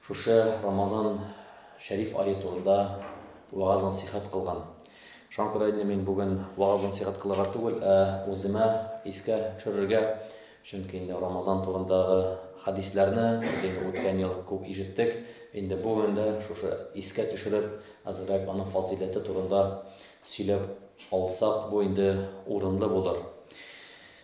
Шушы Рамазан шәриф ае турында вәгазь-насыйхәт кылган. Шуңа күрә инде мин бүген вәгазь-насыйхәт кылырга түгел, ә үземә искә төшерергә, чөнки инде Рамазан турындагы хәдисләрне без инде үткән ел күп ишеттек, инде бүген дә шушы искә төшереп, әзрәк аның фазыйләте турында сөйләп алсак, бу инде урынлы булыр.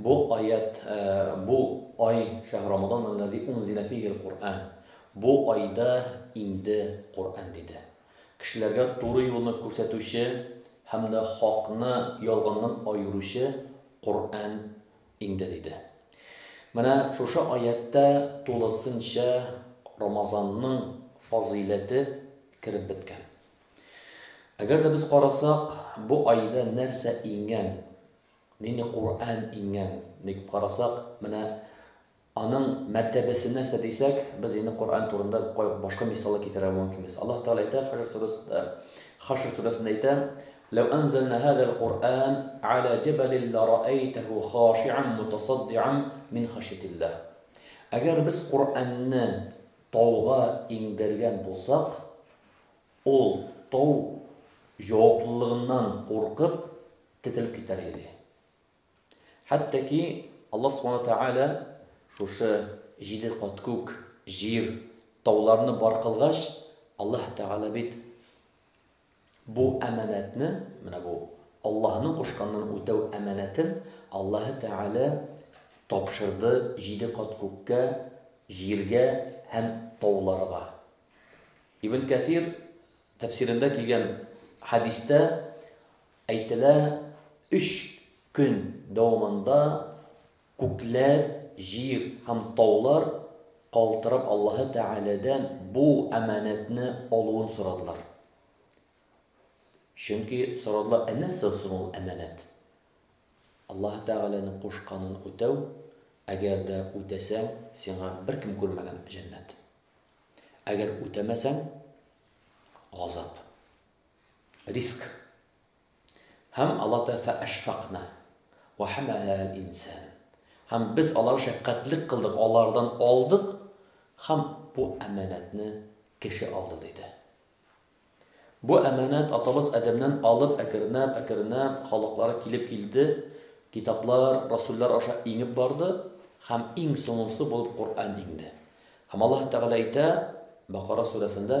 Бу аять, бу ай, шәһр рамадан аллази унзилә фигел Коръән. Бу айда инде Коръән диде. Кешеләргә туры юлны күрсәтүче һәм дә хакны ялганнан аеручы Коръән инде диде. Менә шушы аятьтә тулысынча Рамазанның фазыйләте кереп беткән. Әгәр дә без карасак, бу айда нәрсә иңгән? Нинди Коръән иңгән дип карасак, менә аның мәртәбәсе нәрсә дисәк, без инде Коръән турында башка мисаллар китерә мөмкинбез. Аллаһ Тәгалә әйтә Хашр сүрәсендә, Хашр сүрәсендә әйтә, "Ләү анзална хазал Коръән ала җабалин лараайтаху хашиан мутасаддиан мин хашятиллах". Әгәр без Коръәнне тауга иңдергән булсак, ул тау җаваплылыгыннан куркып, Кителеп китәр иде. Хәтта ки Аллаһ Субхана Тәгалә шушы җиде кат күк, җир, тауларны бар кылгач, Аллаһ Тәгалә бит бу әманәтне, менә бу Аллаһның кушканнан үтәү әманәтен Аллаһ Тәгалә тапшырды җиде кат күккә, җиргә һәм тауларга. Ибн Кәфир тәфсирендә килгән хадистә Әйтелә, өч көн дәвамында күкләр, җир һәм таулар калтырап Аллаһы Тәгаләдән бу әманәтне алуын сорадылар. Чөнки сорадылар, ә нәрсә соң ул әманәт? Аллаһы Тәгаләнең кушканын үтәү, әгәр дә үтәсәң, сиңа беркем күрмәгән җәннәт. Әгәр үтәмәсәң, газап. Риск. Һәм Алла Тәгалә фәәшфакна ва хамәләһә әл-инсан. Һәм без алар шәфкатьлек кылдык, алардан алдык һәм бу әманәтне кеше алды диде. Бу әманәт атабыз Адәмнән алып әкренләп, әкренләп халыклар килеп килде, китаплар, расуллар аша иңеп барды һәм иң соңгысы булып Коръән иңде. Һәм Аллаһ Тәгалә әйтә Бакара сүрәсендә,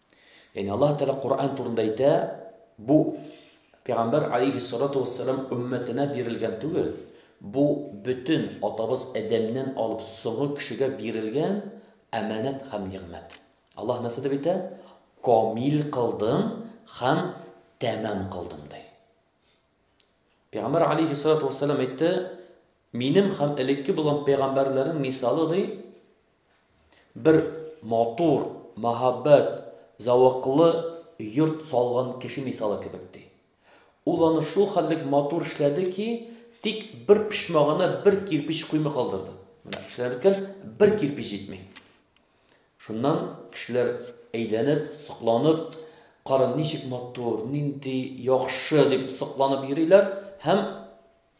Яни Аллаһ Тәгалә Коръән турында әйтә, бу Пәйгамбәр алейхиссалату вассалам өммәтенә бирелгән түгел, бу бөтен атабыз Адәмнән алып соңгы кешегә бирелгән әманәт һәм нигъмәт. Аллаһ нәрсә дип әйтә? Камил кылдым һәм тәмам кылдым ди. Пәйгамбәр алейхиссалату вассалам әйтте, минем һәм элекке булган пәйгамбәрләрнең мисалы ди, Бер матур, мәһабәт, зәвыклы йорт салган кеше мисалы кебек, ди. Ул аны шул хәтлек матур эшләде ки, тик бер почмагына бер кирпич куймый калдырды. Менә эшләнеп беткән бер кирпич җитми. Шуннан кешеләр әйләнеп, сокланып, кара, ничек матур, нинди яхшы дип сокланып йөриләр һәм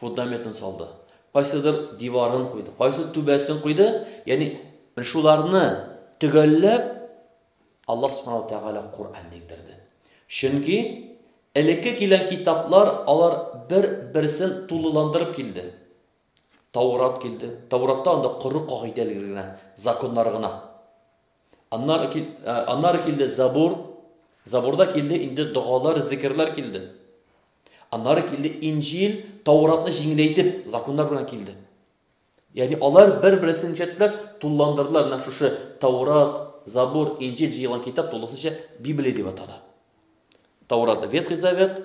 фундаметын салды, кайсыдыр диварын куйды, кайсы түбәсен куйды, ягъни шуларны төгәлләп Аллаһ Субхану Тәгалә Коръәнне индерде. Чөнки элекке килгән китаплар алар бер-берсен тулыландырып килде. Таурат килде. Тауратта анда коры кагыйдәләр генә, законнар гына. Аннары кил, э, аннары килде Забур. Забурда килде инде догалар, зикерләр килде. Аннары килде Инҗил, Тауратны җиңеләйтеп, законнар белән килде. Ягъни алар бер-берсен ничәтләп тулыландырдылар, менә шушы Таурат, Забур, Инҗил җыелган китап тулысынча Библия дип атала. Таурат Ветхий Завет,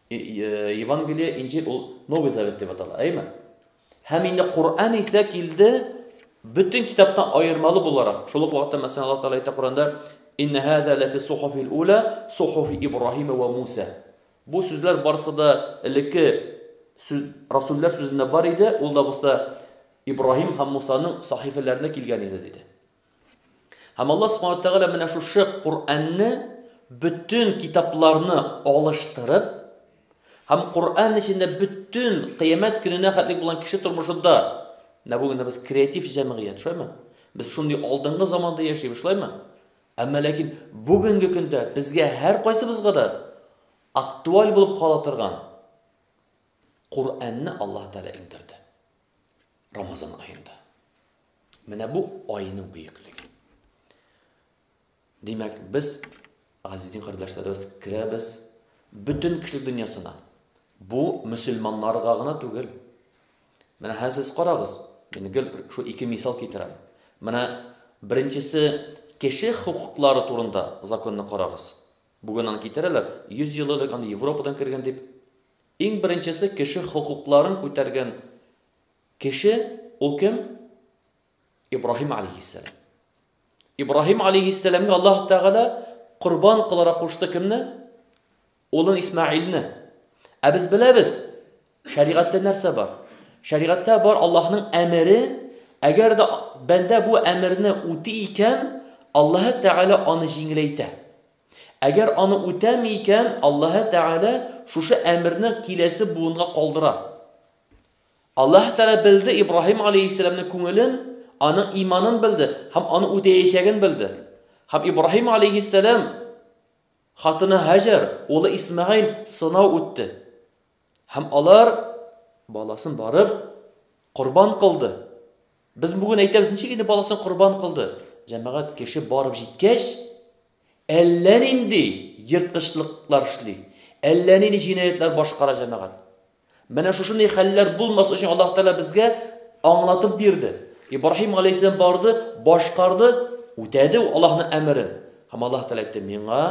Евангелие, Инҗил ул Новый Завет дип атала, әйме? Һәм инде Коръән исә килде бөтен китаптан аермалы буларак. Шул ук вакытта мәсәлән Аллаһ Тәгалә әйтә Коръәндә: "Инна хаза ла фи сухуфил ула, сухуфи Ибраһима ва Муса". Бу сүзләр барысы да элекке расуллар сүзендә бар иде, ул да булса Ибраһим һәм Мусаның сахифәләрендә килгән иде диде. Һәм Аллаһ Субханаһу ва Тәгалә менә шушы Коръәнне бөтен китапларны алыштырып һәм Коръән эчендә бөтен кыямәт көненә хәтлек булган кеше тормышында менә бүген без креатив җәмгыять, шулаймы? Без шундый алдынгы заманда яшибез, шулаймы? Әмма ләкин бүгенге көндә безгә һәр кайсыбызга да актуаль булып кала торган Коръәнне Аллаһ Тәгалә иңдерде. Рамазан аенда. Менә бу айның бөеклеге. Димәк, без азизин кардәшләребез керәбез бөтен кеше дөньясына. Бу мөселманнарга гына түгел. Менә һәр сез карагыз. Мин гел шу ике мисал китерәм. Менә беренчесе кеше хукуклары турында законны карагыз. Бүген аны китерәләр, 100 ел элек аны Европадан кергән дип. Иң беренчесе кеше хокукларын күтәргән кеше, ул кем? Ибраһим алейхиссәлам. Ибраһим алейхиссәламгә Аллаһ Тәгалә корбан кыларак кушты кемне? Улын Исмаилне. Ә без беләбез, Шәригатьтә нәрсә бар? Шәригатьтә бар Аллаһның әмере, әгәр дә бәндә бу әмерне үти икән, Аллаһ Тәгалә аны җиңеләйтә. Әгәр аны үтәми икән, Аллаһ Тәгалә шушы әмерне киләсе буынга калдыра. Аллаһ Тәгалә белде Ибраһим алейхиссәламның күңелен, аның иманын белде һәм аны үтәячәген белде. Һәм Ибраһим алейхиссәлам хатыны Хаҗар, улы Исмәгыйль сынау үтте. Һәм алар баласын барып корбан кылды. Без бүген әйтәбез, ничек инде баласын корбан кылды? Җәмәгать кеше барып җиткәч, әллә нинди ерткычлыклар эшли, әллә нинди җинаятлар башкара җәмәгать. Менә шушындый хәлләр булмас өчен Аллаһ Тәгалә безгә аңлатып бирде. Ибраһим алейһиссалам барды, башкарды, үтәде ул Аллаһның әмерен. Һәм Аллаһ Тәгалә әйтте, миңа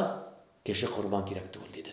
кеше корбан кирәк түгел диде.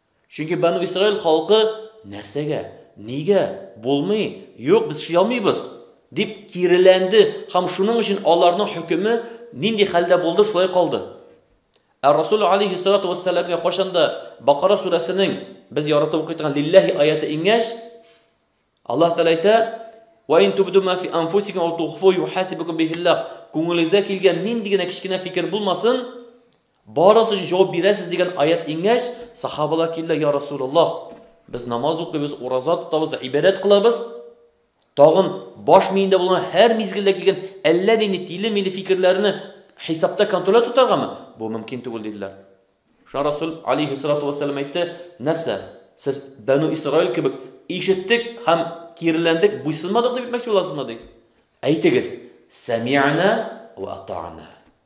Чөнки Бану Исраил халкы нәрсәгә, нигә, булмый, юк, без эшли алмыйбыз, дип киреләнде һәм шуның өчен аларның хөкеме нинди хәлдә булды, шулай калды. Ә Расул алейхи салату вассаламга кайчанда Бакара сүрәсенең без яратып укый торган лилләһи аяты иңгәч, Аллаһ Тәгалә әйтә: "Ва ин тубду ма фи анфусикум ау тухфу юхасибукум бихиллах". Күңелегезгә килгән нинди генә кечкенә фикер булмасын, Барысы өчен җавап бирәсез дигән аять иңгәч, сахабалар килде, я Расулаллах, без намаз укыйбыз, ураза тотабыз, ибадәт кылабыз. Тагын баш миендә булган һәр мизгелдә килгән әллә нинди тиле-миле фикерләрне хисапта контрольдә тотаргамы? Бу мөмкин түгел диделәр. Шуңа Расул алейхи салату вассалам әйтте, нәрсә? Сез Бәну Исраил кебек ишеттек һәм киреләндек, буйсынмадык дип әйтмәкче буласызмы ди? Әйтегез, сәми'на ва ата'на.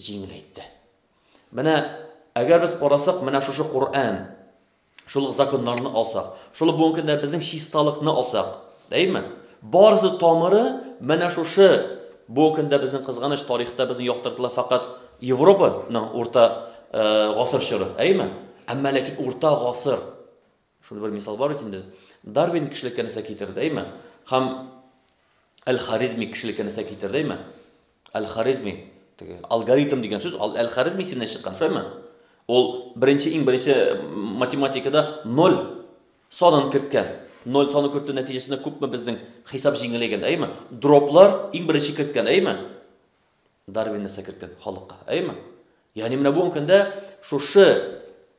җиңел әйтте. Менә әгәр без карасак, менә шушы Коръән, шул ук законнарны алсак, шул ук бүгенге көндә безнең чисталыкны алсак, дәйме? Барысы тамыры менә шушы бүгенге көндә безнең кызганыч тарихта безнең яктыртыла факат Европаның урта э, гасыр чоры, әйме? Әмма ләкин урта гасыр Шундый бер мисал бар бит инде. Дарвин кешелеккә нәрсә китерде, әйме? Хам Әл-Харизми кешелеккә нәрсә китерде, әйме? Әл-Харизми, теге алгоритм дигән сүз Әл-Харизми исеменнән чыккан, шулаймы? Ул беренче иң беренче математикада 0 санын керткән. 0 саны кертү нәтиҗәсендә күпме безнең хисап җиңеләйгән, әйме? Дроплар иң беренче керткән, әйме? Дарвин нәрсә керткән халыкка? Әйме? Ягъни менә бүгенге көндә шушы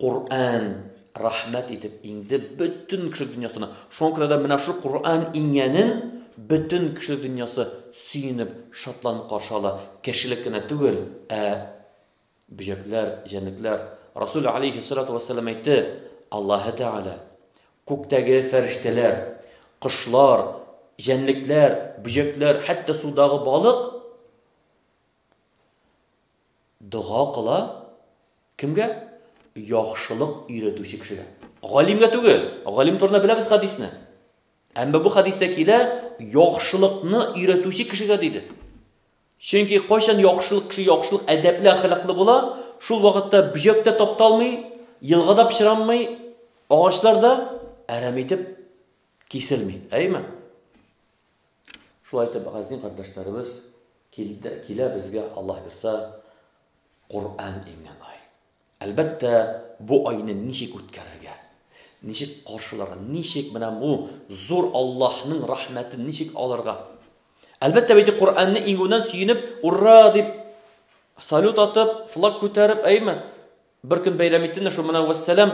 Коръән рәхмәт итеп инде бөтен кеше дөньясына. Шуңа күрә дә менә шушы Коръән иңгәнен бөтен кеше дөньясы сөенеп, шатланып каршы ала. Кешелек кенә түгел, ә Бөҗәкләр, җәнлекләр. Расул алейһиссалату вәссәлам әйтте, Аллаһы Тәгалә күктәге фәрештәләр, кошлар, җәнлекләр, бөҗәкләр, хәтта судагы балык дога кыла кемгә? Яхшылык өйрәтүче кешегә. Галимгә түгел. Галим турында беләбез хадисне. Әмма бу хадистә килә, яхшылыкны өйрәтүче кешегә диде. Чөнки кайчан яхшылык кеше яхшылык әдәпле, әхлаклы була, шул вакытта бөҗәк тә тапталмый, елга да пычранмый, агачлар да әрәм итеп киселми. Әйме? Шулай итеп, газни кардәшләребез килде, килә безгә, Аллаһ бирса, Коръән иңгән ай. Әлбәттә, бу айны ничек үткәрергә? Ничек каршыларга? Ничек менә бу зур Аллаһның рәхмәтен ничек алырга? Әлбәттә, бит Коръәнне иңүннән сөенеп, ура дип салют атып, флаг күтәреп, әйме? Бер көн бәйрәм итеннәр, шул менә вәссәлам.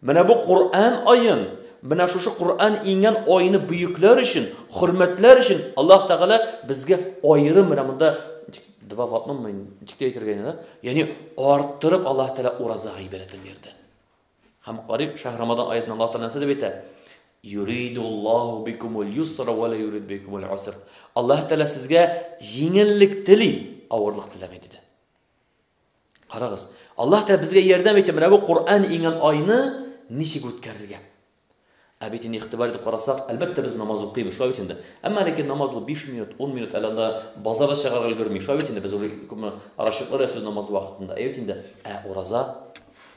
Менә бу Коръән аен, менә шушы Коръән иңгән айны бөекләр өчен, хөрмәтләр өчен Аллаһ Тәгалә безгә аерым менә монда два в одном мы ничек әйтергә инде, да? Ягъни арттырып Аллаһ Тәгалә ураза гыйбадәтен бирде. Һәм Кариф шәһр Рамадан аятында Аллаһ Тәгалә нәрсә дип әйтә? Юридуллаху бикумул юсра ва ла юрид бикумул уср. Аллаһ Тәгалә сезгә җиңеллек тели, авырлык теләми диде. Карагыз, Аллаһ Тәгалә безгә ярдәм итеп, менә бу Коръән иңгән айны ничек үткәрергә? Ә бит инде игътибар итеп карасак, әлбәттә без намаз укыйбыз, шулай бит инде. Әмма ләкин намаз ул 5 минут, 10 минут, әле анда базарда чыгарга өлгерми, шулай бит инде без уже күпме расчетлар ясыйбыз намаз вакытында. Әйт инде, ә ураза?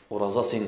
Ураза син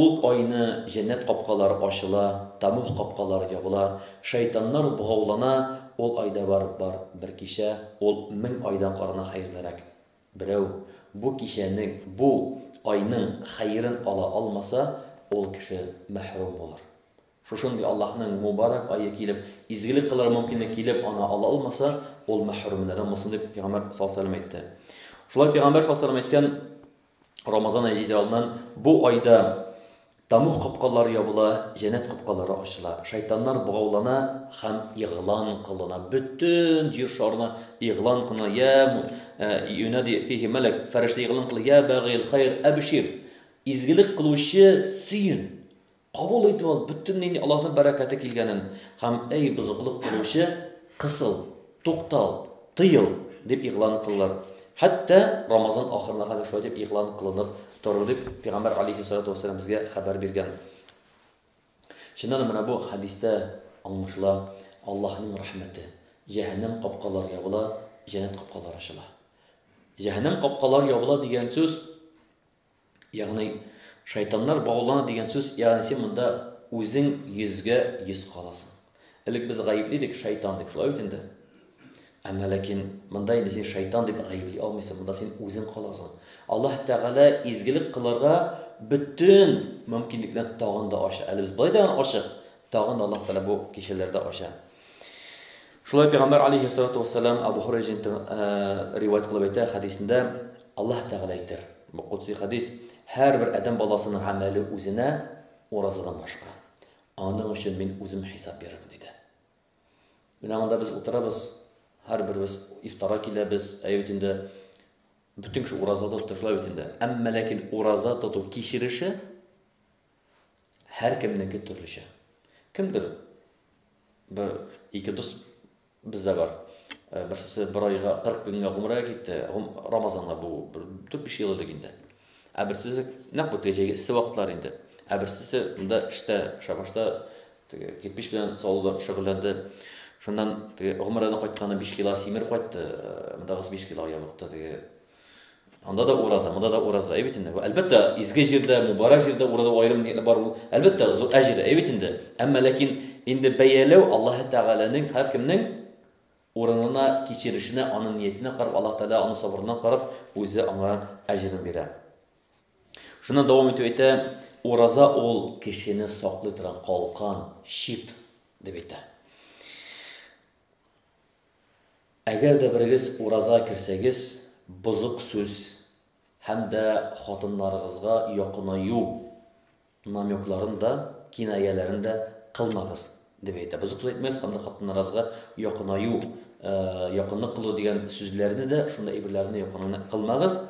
Ул айны җәннәт капкалары ачыла, тәмуг капкалары ябыла, шәйтаннар богаулана, ул айда барып бар, бер кичә, ул мең айдан карана хәерлерәк. Берәү бу кичәнең, бу айның хәерен ала алмаса, ул кеше мәхрүм булыр. Шушындый Аллаһның мубарәк ае килеп, изгелек кылырга мөмкинлек килеп, аны ала алмаса, ул мәхрүмнәрдән булсын, дип Пәйгамбәр саллаллаһу галәйһи ва сәлләм әйтте. Шулай Пәйгамбәр саллаллаһу галәйһи ва сәлләм әйткән, Рамазан ае җитәр алдыннан бу айда Тамух капкалары ябыла, җәннәт капкалары ачыла. Шайтаннар богаулана һәм игълан кылына. Бөтен җир шарына игълан кылына. Я юнади э, фихи мәләк, фәрештә игълан кылы. Я багил хайр абшир. Изгелек кылучы сөен. Кабул ит ул бөтен нинди Аллаһның бәрәкәте килгәнен һәм, әй, бозыклык кылучы, кысыл, туктал, тыел, дип игълан кыллар. Хәтта Рамазан ахырына кадәр шулай дип игълан кылынып торыр дип Пәйгамбәр алейһиссалату вәссәлам безгә хәбәр биргән. Чыннан да менә бу хәдистә аңлашыла Аллаһның рәхмәте. Җәһәннәм капкалары ябыла, җәннәт капкалары ачыла. Җәһәннәм капкалары ябыла дигән сүз Ягъни, шайтаннар баулана дигән сүз, ягъни син монда үзең йөзгә йөз каласың. Элек без гаепли идек шайтан дип, шулай бит инде. Әмма ләкин монда инде син шайтан дип гаепли алмыйсың, монда син үзең каласың. Аллаһ Тәгалә изгелек кылырга бөтен мөмкинлекләрне тагын да ача. Әле без былай да ачык, тагын да Аллаһ Тәгалә бу кичәләрдә ача. Шулай пәйгамбәр алейһиссалату вассалам Абу Хурайҗинтан риваять кылып әйтә хәдисендә Аллаһ Тәгалә әйтер. Бу кудси хәдис һәрбер адәм баласының гамәле үзенә уразадан башка. Аның өчен мин үзем хисап бирермен диде. Менә монда без утырабыз, һәрберебез ифтара киләбез, әйе бит инде бөтен кеше ураза тотты, шулай бит инде. Әмма ләкин ураза тоту кичереше Һәркемнеке төрлечә. Кемдер бер ике дус бездә бар. Э, берсесе бер айга 40 көнгә гомрәгә китте, Рамазанга бу 4-5 ел элек инде. Ә берсесе нәкъ бу кәҗәгә эссе вакытлар инде. Ә берсесе монда эштә, шабашта теге кирпич белән салуда шөгыльләнде. Шуннан теге гомрәдән кайтканда 5 кило симер кайтты, э, мондагысы 5 кило ябыкты теге Анда да ураза, монда да ураза, әйбит инде. Әлбәттә, изге җирдә, мубарак җирдә ураза аерым ниятне бар ул. Әлбәттә, зур әҗер, әйбит инде. Әмма ләкин инде бәяләү Аллаһ Тәгаләнең һәр кемнең урынына кичерешенә, аның ниятенә карап, Аллаһ Тәгалә аның сабырына карап, үзе аңа әҗерен бирә. Шуннан дәвам итеп әйтә, ураза ул кешене саклый торган калкан, щит дип әйтә. Әгәр дә берегез ураза керсәгез, бозык сүз һәм дә хатыннарыгызга якынаю намекларын да, кинаяләрен дә кылмагыз, дип әйтә. Бозык сүз әйтмәгез һәм дә хатыннарыгызга якынаю, якынлык кылу дигән сүзләрне дә, шундый әйберләрне якынлык кылмагыз.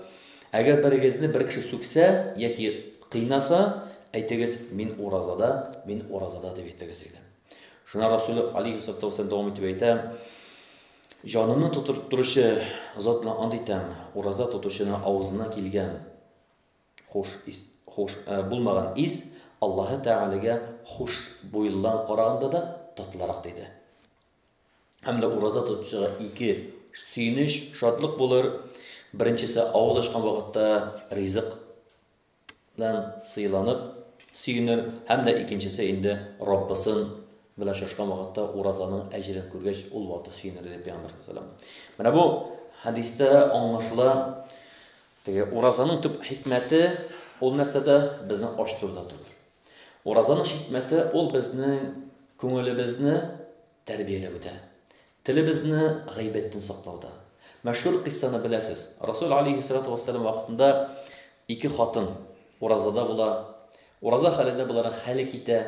Әгәр берегезне бер кеше сүксә яки кыйнаса, әйтегез, мин уразада, мин уразада, дип әйтегез, диде. Шуңа Расул алейхи салату вассалам дәвам итеп әйтә, җанымны тотып торучы зат белән ант итәм, ураза тотучының авызына килгән хуш ис, хуш ә, булмаган ис Аллаһы Тәгаләгә хуш буйлылан караганда да татлырак диде. Һәм дә ураза тотучыга ике сөенеч, шатлык булыр. Беренчесе авыз ачкан вакытта ризык Нан сыйланып, сөенер, һәм дә икенчесе инде Раббысын белән очрашкан вакытта уразаның әҗерен күргәч, ул вакытта сөенер, диде Пәйгамбәр саллаллаһу Менә бу хәдистә аңлашыла, теге уразаның төп хикмәте ул нәрсәдә? Безне ач торуда түгел. Уразаның хикмәте ул безнең күңелебезне тәрбияләүдә. Телебезне гыйбәттән саклауда. Мәшһүр кыйссаны беләсез. Расул алейһиссалату вәссәлам вакытында ике хатын уразада була. Ураза хәлендә боларның хәле китә.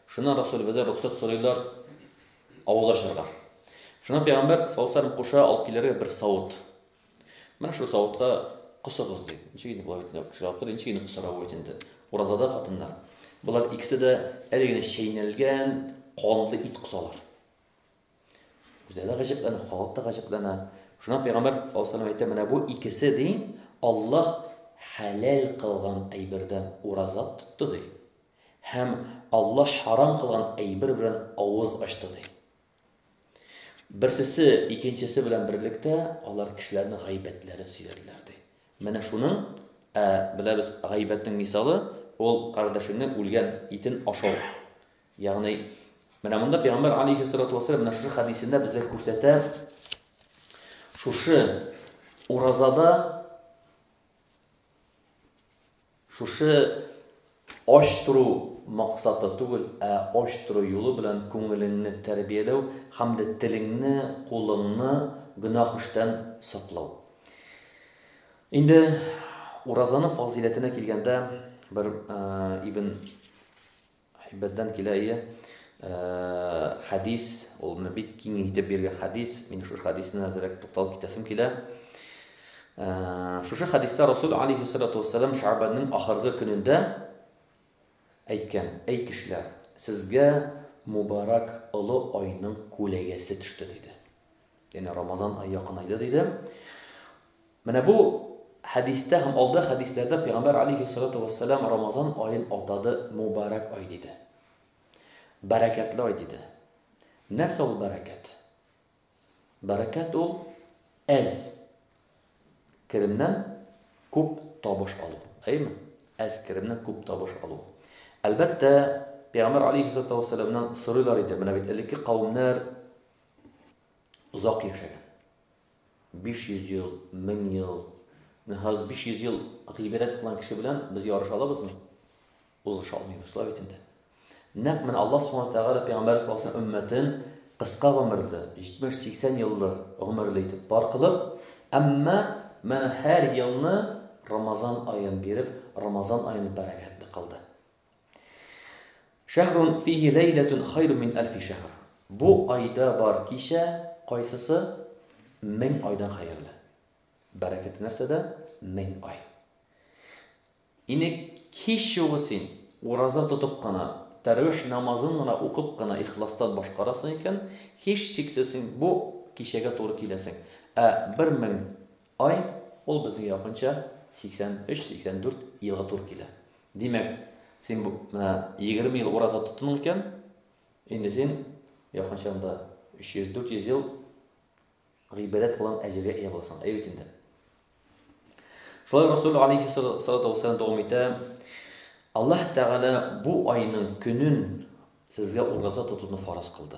Шуннан Расулебездән рөхсәт сорыйлар авыз ачарга. Шуннан пәйгамбәр саллаллаху алейһи ва саллям куша алып килергә бер савыт. Менә шул савытка косыгыз ди. Ничек инде болай бит кеше алып тора, ничек инде косарга бу бит инде. Уразада хатыннар. Болар икесе дә әле генә чәйнәлгән канлы ит косалар. Үзләре гаҗәпләнә, халык та гаҗәпләнә. Шуннан пәйгамбәр саллаллаху әйтә, менә бу икесе ди, Аллаһ хәләл кылган әйбердән ураза тотты ди. Һәм Аллаһ харам кылган әйбер белән авыз ачты ди. Берсесе икенчесе белән берлектә алар кешеләрнең гайбәтләрен сөйләделәр ди. Менә шуның ә, беләбез гайбәтнең мисалы, ул кардәшеңнең үлгән итен ашау. Ягъни, менә монда пәйгамбәр алейһиссалату вассалам менә шушы хәдисендә безгә күрсәтә, шушы уразада шушы ач тору максаты түгел, ә ач тору юлы белән күңелеңне тәрбияләү һәм дә телеңне, кулыңны гөнаһ эштән саклау. Инде уразаның фазиләтенә килгәндә, бер Ибн Әйбәттән килә ие. Э, хәдис, ул менә бик киң итеп биргән хәдис. Мин шушы хәдисне әзрәк тукталып китәсем килә. Э, шушы хәдистә Расул алейхи салату вассалам Шабанның ахыргы көнендә әйткән: "Әй кешеләр, сезгә мубарак олы айның күләгәсе төште", диде. Янә Рамазан ае якынайды диде. Менә бу хәдистә һәм алда хәдисләрдә Пәйгамбәр алейхиссалату вассалам Рамазан аен атады мубарак ай диде. Бәрәкәтле ай диде. Нәрсә ул бәрәкәт? Бәрәкәт ул әз керемнән күп табыш алу. Әйме? Әз керемнән күп табыш алу. Әлбәттә, Пәйгамбер алейхиссалату вассаламнан сорыйлар иде. Менә бит элекке кавымнар озак яшәгән. 500 ел, 1000 ел. Менә хәзер 500 ел гыйбадәт кылган кеше белән без ярыша алабызмы? Узыша алмыйбыз, шулай бит инде. Нәкъ менә Аллаһ Субхану Тәгалә пәйгамбәр саллаллаху алейһи өммәтен кыска гомерле, 70-80 еллы гомерле итеп бар кылып, әмма менә һәр елны Рамазан аен биреп, Рамазан аен бәрәкәтле кылды. Шәһрун фиһи ләйләтун хайру мин әлфи шәһр. Бу айда бар кичә кайсысы мең айдан хәерле. Бәрәкәте нәрсәдә? Мең ай. Ине кич югы син ураза тотып кына, тәрвих намазын гына укып кына ихластан башкарасың икән, һич шиксез син бу кичәгә туры киләсең. Ә 1000 Ай, ул безгә якынча 83-84 елга туры килә. Димәк, син бу менә 20 ел ураза тоттың икән, инде син якынча анда 300-400 ел гыйбадәт кылган әҗергә ия буласың. Әйе бит инде. Шулай Расул алейхи салату вассалам дәвам итә. Аллаһ Тәгалә бу айның көнен сезгә ураза тотуны фарыз кылды.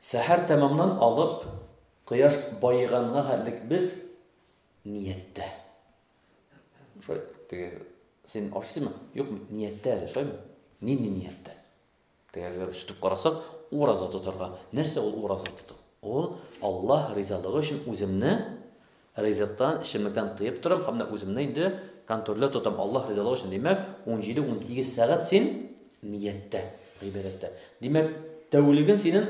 Сәхәр тәмамнан алып, кояш баеганга хәтлек без нияттә. Шулай, теге, син ашыйсыңмы? Юк, нияттә әле, шулаймы? Нинди нияттә? Тегеләр сүтеп карасак, ураза тотарга. Нәрсә ул ураза тоту? Ул Аллаһ ризалыгы өчен үземне Ризыктан, эчемлектән тыеп торам һәм менә үземне инде контрольдә тотам, Аллаһ ризалыгы өчен. Димәк, унҗиде-унсигез сәгать син нияттә, гыйбадәттә. Димәк, тәүлеген синең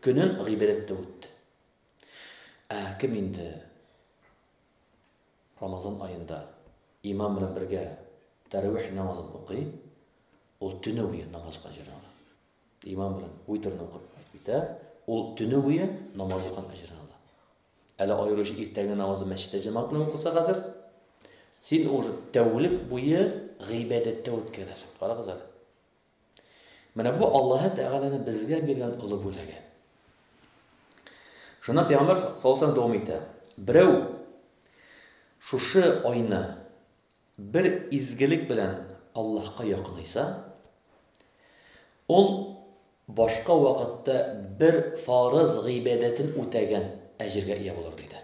көнен гыйбадәттә үтте. Ә кем инде Рамазан аенда имам белән бергә тәравих намазын укый, ул төне буе намаз укыган җирен ала. Имам белән уйтерне укып кайтып китә, ул төне буе намаз укыган җирен ала. Әле аеруча иртәнге намазы мәчеттә җәмәгатьне укыса хәзер, син уж тәүлек буе гыйбадәттә үткәрәсең. Карагыз әле. Менә бу Аллаһы Тәгаләне безгә биргән олы бүләге. Шуна пәйгамбер саллаллаһу дәвам итә. Берәү шушы айны бер изгелек белән Аллаһка якынайса, ул Башка вакытта бер фарыз гыйбадәтен үтәгән әҗергә ия булыр, диде.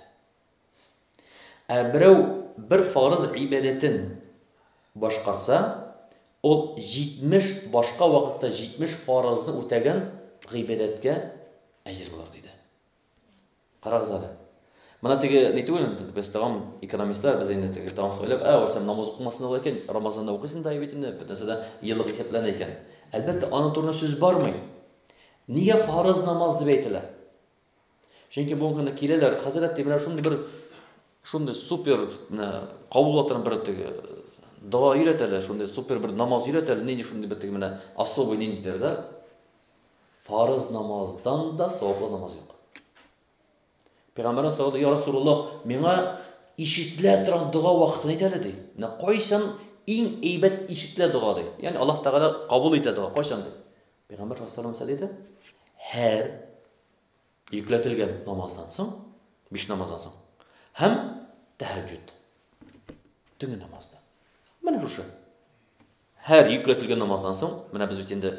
Ә берәү бер фарыз гыйбадәтен башкарса, ул 70 башка вакытта 70 фарызны үтәгән гыйбадәткә әҗер булыр, диде. Карагыз әле. Моны теге ни түгел инде, без тагын экономистлар, без инде теге тагын сөйләп, ә өлсәм намаз укымасын ала икән, Рамазанда укыйсын да бит инде, бөтенесе дә еллык исәпләнә икән. Әлбәттә, аның турында сүз бармый. Нигә фарыз намаз дип әйтелә? Чөнки бүгенге көндә киләләр, хәзрәт дип менә шундый бер шундый супер кабул итәр бер теге дога өйрәтәләр, шундый супер бер намаз өйрәтәләр, нинди шундый бер теге менә особый ниндидер да. Фарыз намаздан да саваплы намаз юк. Пәйгамбәрнең сорады, "Я Расулуллах, миңа ишетелә торган дога вакытын әйт әле", ди. Менә кайчан иң әйбәт ишетелә дога ди. Ягъни Аллаһ Тәгалә кабул итә дога кайчан ди. Пәйгамбәр саллаллаху алейһи диде, һәр йөкләтелгән намаздан соң, биш намаздан соң һәм тәһәҗҗүд. Төнге намазда. Менә шушы. Һәр йөкләтелгән намаздан соң, менә без бит инде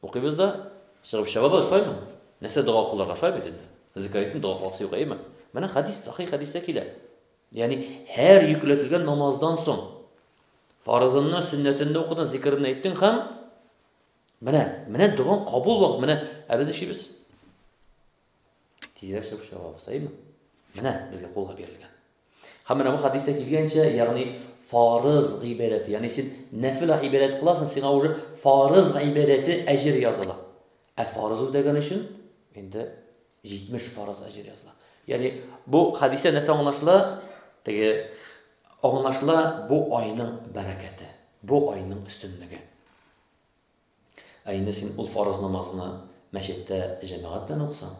укыйбыз да, чыгып чабабыз, шулаймы? Нәрсә дога кылырга, шулай бит инде. Зикариттин дога кыласы юк, әйеме? Менә хадис, сахи хадистә килә. Ягъни һәр йөкләтелгән намаздан соң фарызынны, сөннәтенне укыдың, зикерне әйттең һәм менә, менә доган кабул вакыт, менә ә без эшибез. Тизрәк чыгып чабабыз, әйеме? Менә безгә кулга бирелгән. Һәм менә бу хәдистә килгәнчә, ягъни фарыз гыйбадәте, ягъни син нәфил гыйбадәт кыласың, сиңа уже фарыз гыйбадәте әҗер языла. Ә фарыз үтәгән өчен инде 70 фарыз әҗер языла. Ягъни бу хәдистә нәрсә аңлашыла? Теге аңлашыла бу айның бәрәкәте, бу айның өстенлеге. Ә инде син ул фарыз намазны мәчеттә җәмәгать белән укысаң,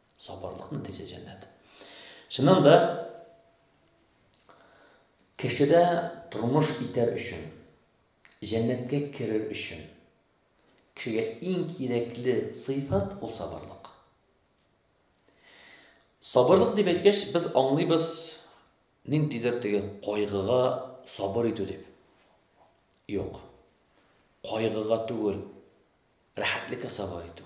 Сабырлык нәтиҗә җәннәт. Чыннан да кешедә тормыш итәр өчен, җәннәткә керер өчен кешегә иң кирәкле сыйфат ул сабырлык. Сабырлык дип әйткәч, без аңлыйбыз ниндидер теге кайгыга сабыр итү дип. Юк. Кайгыга түгел, рәхәтлеккә сабыр итү.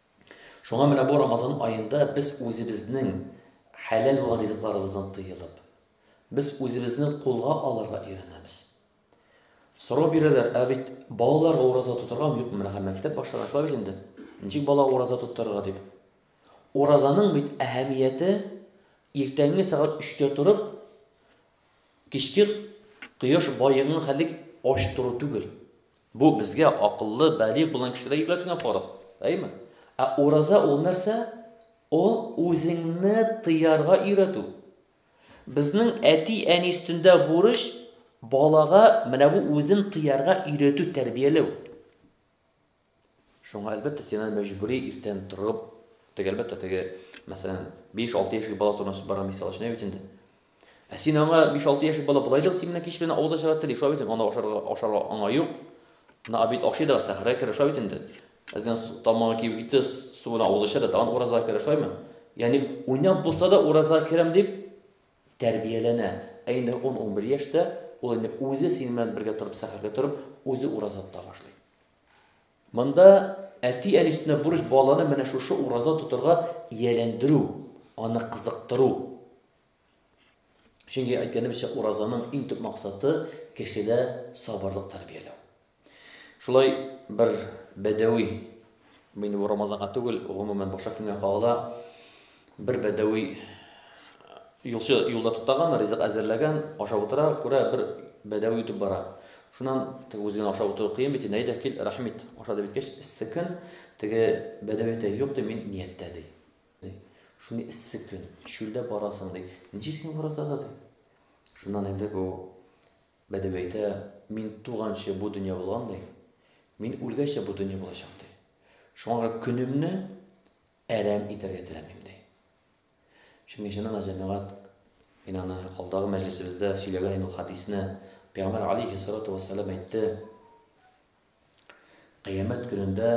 Шуңа менә бу Рамазан аенда без үзебезнең хәләл булган ризыкларыбыздан тыелып, без үзебезне кулга алырга өйрәнәбез. Сорау бирәләр, ә бит балаларга ураза тотарга юк, менә һәм мәктәп башлана шулай бит инде. Ничек бала ураза тотарга дип. Уразаның бит әһәмияте иртәнге сәгать 3-тә торып, кичке кояш баеган хәллек ач тору түгел. Бу безгә, акыллы, балигъ булган кешеләргә йөкләтелгән фарыз. Әйме? Ә ураза ул нәрсә? Ул үзеңне тыярга өйрәтү. Безнең әти-әни өстендә бурыч балага менә бу үзен тыярга өйрәтү, тәрбияләү. Шуңа әлбәттә син аны мәҗбүри иртән торып, теге әлбәттә теге, мәсәлән, 5-6 яшьлек бала турында бара мисал өчен бит инде. Ә син аңа 5-6 яшьлек бала болай да синнән кич белән авыз ачарга тели, шулай бит инде, аны ашарга, ашарга аңа юк. На обед ашый да, сәхәргә керә, шулай бит инде. Әздән тамагы кибеп китте, су белән авыз ача да, тагын ураза керә, шулаймы? Ягъни уйнап булса да ураза керәм дип тәрбияләнә. Ә инде 10-11 яшьтә ул инде үзе синең белән бергә торып, сәхәргә торып, үзе ураза тота башлый. Монда әти-әни өстенә бурыч баланы менә шушы ураза тотарга ияләндерү, аны кызыктыру. Чөнки әйткәнебезчә, уразаның иң төп максаты кешедә сабырлык тәрбияләү. Шулай бер бәдәви мин бу Рамазанга түгел, гомумән башка көнгә кагыла. Бер бәдәви юлчы юлда туктаган, ризык әзерләгән, ашап утыра, күрә бер бәдәви үтеп бара. Шуннан теге үзенә ашап утыру кыен бит, әйдә кил, рәхмит, аша дип әйткәч, эссе көн, теге бәдәви әйтә, юк ди, мин нияттә ди. Ди. Шундый эссе көн, чүлдә барасың, ди. Ничек син барасың да, ди. Шуннан инде бу бәдәви әйтә, мин туганчы бу дөнья булган, ди. Мин үлгәчә бу дөнья булачак, ди. Шуңа күрә көнемне әрәм итәргә теләмим, ди. Чөнки чыннан да җәмәгать мин аны алдагы мәҗлесебездә сөйләгән идем хадисне. Пәйгамбәр алейхи салату вассалам әйтте. Кыямәт көнендә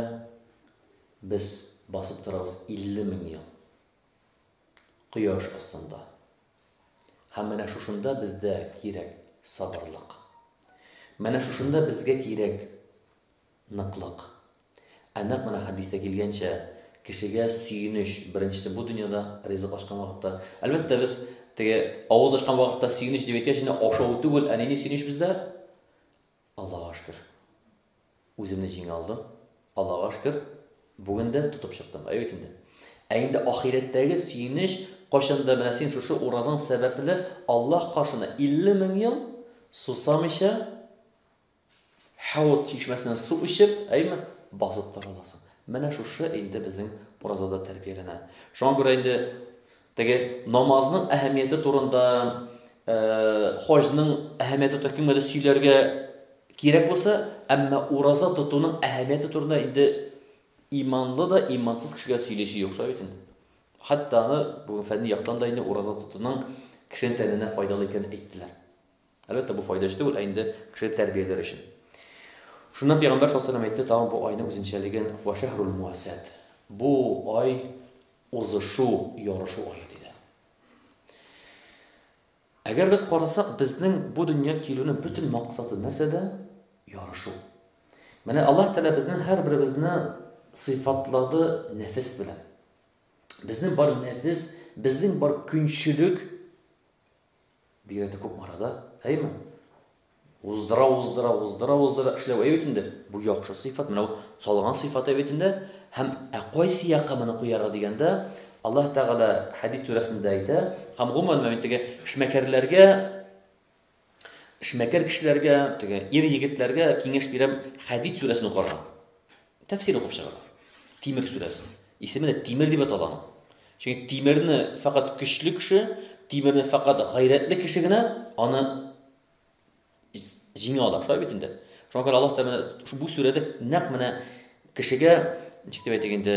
без басып торабыз 50 мең ел кояш астында. Һәм менә шушында бездә кирәк сабырлык. Менә шушында безгә кирәк ныклык. Ә нәкъ менә хәдистә килгәнчә, кешегә сөенеч беренчесе бу дөньяда ризык ашкан вакытта. Әлбәттә, без теге авыз ашкан вакытта сөенеч дип әйткәч, инде ашау түгел, ә нинди сөенеч бездә? Аллага шкер. Үземне җиңә алдым. Аллага шкер, бүген дә тотып чыктым. Әйе бит инде. Ә инде ахирәттәге сөенеч кайчанда менә син шушы уразаң сәбәпле Аллаһ каршына 50 мең ел сусамыйча Хәут чишмәсеннән су эчеп, әйме, басып тора аласың. Менә шушы инде безнең уразада тәрбияләнә. Шуңа күрә инде Теге намазның әһәмияте турында, хаҗның әһәмияте турында кемгәдер сөйләргә кирәк булса, әмма ураза тотуның әһәмияте турында инде иманлы да, имансыз кешегә сөйләшү юк шул бит инде. Хәтта аны бу фәнни яктан да инде ураза тотуның кешенең тәненә файдалы икәнен әйттеләр. Әлбәттә, бу файда өчен түгел, ә инде кеше тәрбияләр өчен. Шуннан пәйгамбәр саллаллаһу алейһи ва сәлләм әйтте тагын бу айның үзенчәлеген, Ва шәһрул муасәт. Бу ай узышу, ярышу ае диде. Әгәр без карасак, безнең бу дөнья килүнең бөтен максаты нәрсәдә? Ярышу. Менә Аллаһ Тәгалә безнең һәрберебезне сыйфатлады нәфес белән. Безнең бар нәфес, безнең бар көнчелек Бигрәк тә күп арада, әйме? Уздыра, уздыра, уздыра, уздыра эшләү әйбәт инде. Бу яхшы сыйфат, менә бу салган сыйфат әйбәт инде. Һәм ә кайсы якка моны куярга дигәндә, Аллаһ Тәгалә Хәдид сүрәсендә әйтә, һәм гомумән мен теге эшмәкәрләргә эшмәкәр кешеләргә, теге ир егетләргә киңәш бирәм, Хәдид сүрәсен укырга. Тәфсир укып чыгыла. Тимер сүрәсе. Исеме дә Тимер дип атала аның. Чөнки Тимерне факат көчле кеше, Тимерне факат гайрәтле кеше генә аны җиңә ала. Шулай бит инде. Шуңа күрә Аллаһ Тәгалә бу сүрәдә нәкъ менә кешегә, ничек дип әйтик инде,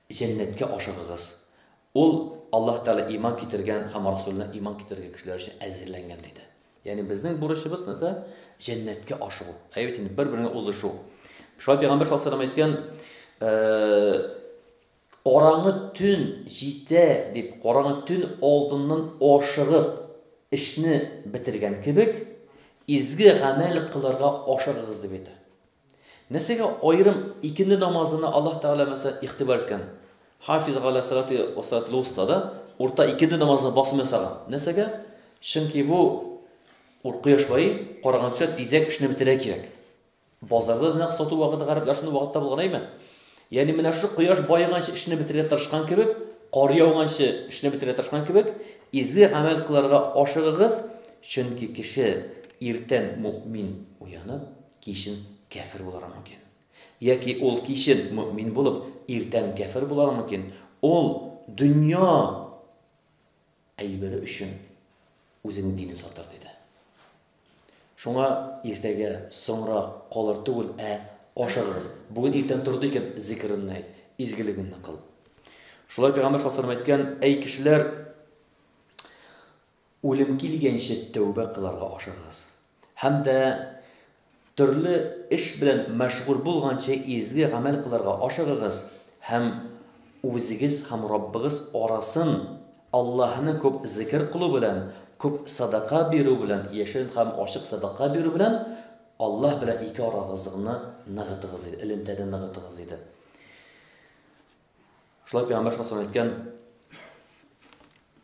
Җәннәткә ашыгыгыз. Ул Аллаһ Тәгалә иман китергән һәм Расулына иман китергән кешеләр өчен әзерләнгән, диде. Ягъни безнең бурычыбыз нәрсә? Җәннәткә ашыгу. Әйе бит инде, бер-береңә узышу. Шулай Пәйгамбәр саллаллаһу алейһи ва сәлләм әйткән, караңгы төн җитә дип, караңгы төн алдыннан ашыгып эшне бетергән кебек, изге гамәл кылырга ашыгыгыз дип әйтә. Нәрсәгә аерым икенде намазына Аллаһ Тәгалә мәсәлән игътибар иткән? Хафизу галә салати ва салатил вустада урта икенде намазына басым ясаган. Нәрсәгә? Чөнки бу ур кояш баи караганча тизрәк эшне бетерә кирәк. Базарда да нәкъ сату вакыты гарәпләр шундый вакытта булган әйме? Ягъни менә шушы кояш баеганчы эшне бетерергә тырышкан кебек, кар яуганчы эшне бетерергә тырышкан кебек, изге гамәл кылырга ашыгыгыз, чөнки кеше иртән мөэмин уянып, Кичен кяфер булырга мөмкин. Яки ул кичен мөэмин булып, иртән кяфер булырга мөмкин. Ул дөнья әйбере өчен үзенең динен сатыр, диде. Шуңа иртәгә соңра калыр түгел, ә ашыгыз. Бүген иртән торды икән, зикеренне әйт, изгелегенне кыл. Шулай пәйгамбәр саллаллаһу әйткән, әй кешеләр, Үлем килгәнче тәүбә кыларга ашыгыгыз һәм дә төрле эш белән мәшгуль булганчы изге гамәл кыларга ашыгыгыз һәм үзегез һәм Раббыгыз арасын Аллаһыны күп зикер кылу белән, күп садака бирү белән, яшерен һәм ачык садака бирү белән Аллаһ белән ике арагызгны ныгытыгыз диде, элемтәне ныгытыгыз диде. Шулай пәйгамбәр саллаллаху әйткән,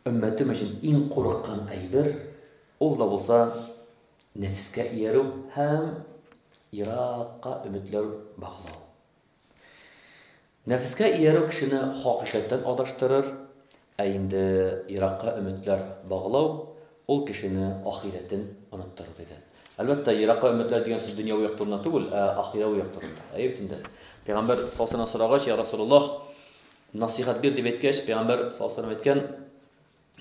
өммәтем өчен иң курыккан әйбер, ул да булса нәфескә иярү һәм еракка өметләр баглау. Нәфескә иярү кешене хакыйкатьтән адаштырыр, Ә инде еракка өметләр баглау, ул кешене ахирәтен оныттыру, диде. Әлбәттә, еракка өметләр дигән сүз дөньяви як турында түгел, ә ахирәви як турында. Әйе бит инде. Пәйгамбәр саллаллаһу сорагач, я Расулуллаһ, насыйхат бир дип әйткәч, пәйгамбәр саллаллаһу әйткән,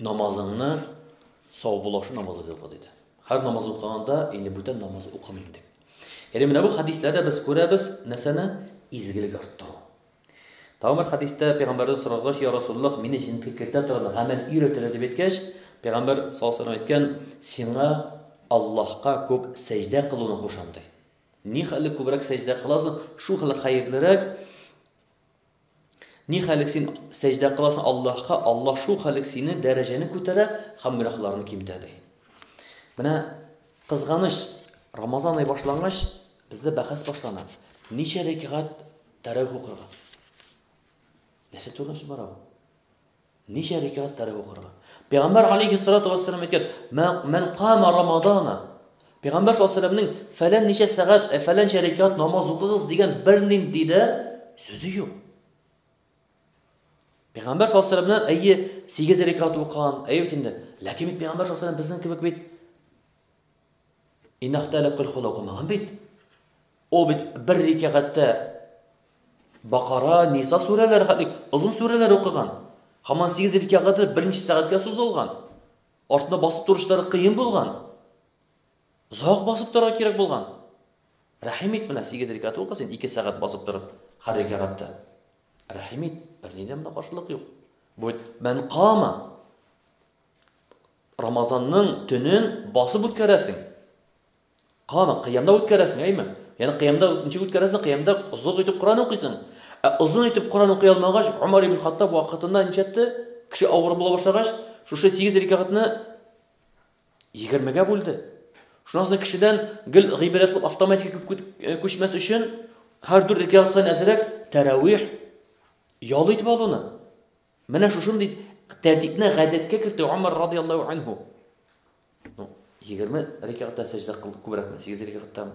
намазыңны саубулашу намазы дип укы диде. Һәр намаз укыганда инде бүтән намаз укымыйм дип. Яни менә бу хадисләрдә без күрәбез нәрсәне? Изгелек арттыру. Тагын бер хәдистә пәйгамбәрдән соралгач, я Расуллах, мине җенки кертә торган гамәл өйрәтелә дип әйткәч, пәйгамбәр саллаллаху алейһи әйткән, сиңа Аллаһка күп сәҗдә кылуны кушам ди. Ни хәле күбрәк сәҗдә кыласың, шул хәле хәерлерәк. Ни хәле син сәҗдә кыласың Аллаһка, Аллаһ шул хәле сине дәрәҗәне күтәрә һәм гөнаһларны кимтә ди. Менә кызганыч, Рамазан ай башлангач, бездә бәхәс башлана. Ничә рәкәгать Тәравих укырга. Нәрсә турында сүз бара бу? Ничә рикәгать тәравих укырга? Пәйгамбәр алейхи салату вассалам әйткән, "Мән кама рамадана" Пәйгамбәр саллаллаһу фәлән ничә сәгать, ә фәлән рикәгать намаз укыгыз дигән бернинди дә сүзе юк. Пәйгамбәр саллаллаһу әйе, 8 рикәгать укыган, әйе бит инде. Ләкин бит Пәйгамбәр саллаллаһу безнең кебек бит Иннах тәлә көлхул укымаган бит. Ул бит бер рикәгатьтә Бакара, Ниса сүрәләре хәтлек озын сүрәләр укыган. Хаман 8 рикәгатьтә берничә сәгатькә сузылган. Артына басып торышлары кыен булган. Озак басып торырга кирәк булган. Рәхим ит менә 8 рикәгать укы син 2 сәгать басып торып һәр рикәгатьтә. Рәхим ит, бернинди монда каршылык юк. Бу бит мән кама. Рамазанның төнен басып үткәрәсең. Кама, кыямда үткәрәсең, әйме? Яны кыямда ничек үткәрәсең? Кыямда озак итеп Коран укыйсың. Ә озын итеп Коран укый алмагач, Умар ибн Хаттаб вакытында ничәтте? Кеше авыр була башлагач, шушы 8 рикагатны 20-гә бүлде. Шуннан соң кешедән гел гыйбрәт булып автоматика э, күчмәс өчен һәр дүрт рикагат саен әзрәк тәравих ял итеп алуны. Менә шушындый тәртипне гадәткә кертү Умар радиаллаһу анһу. Ну, 20 рәкәгатьтә сәҗдә кылды күбрәкме? 8 рәкәгатьтәме?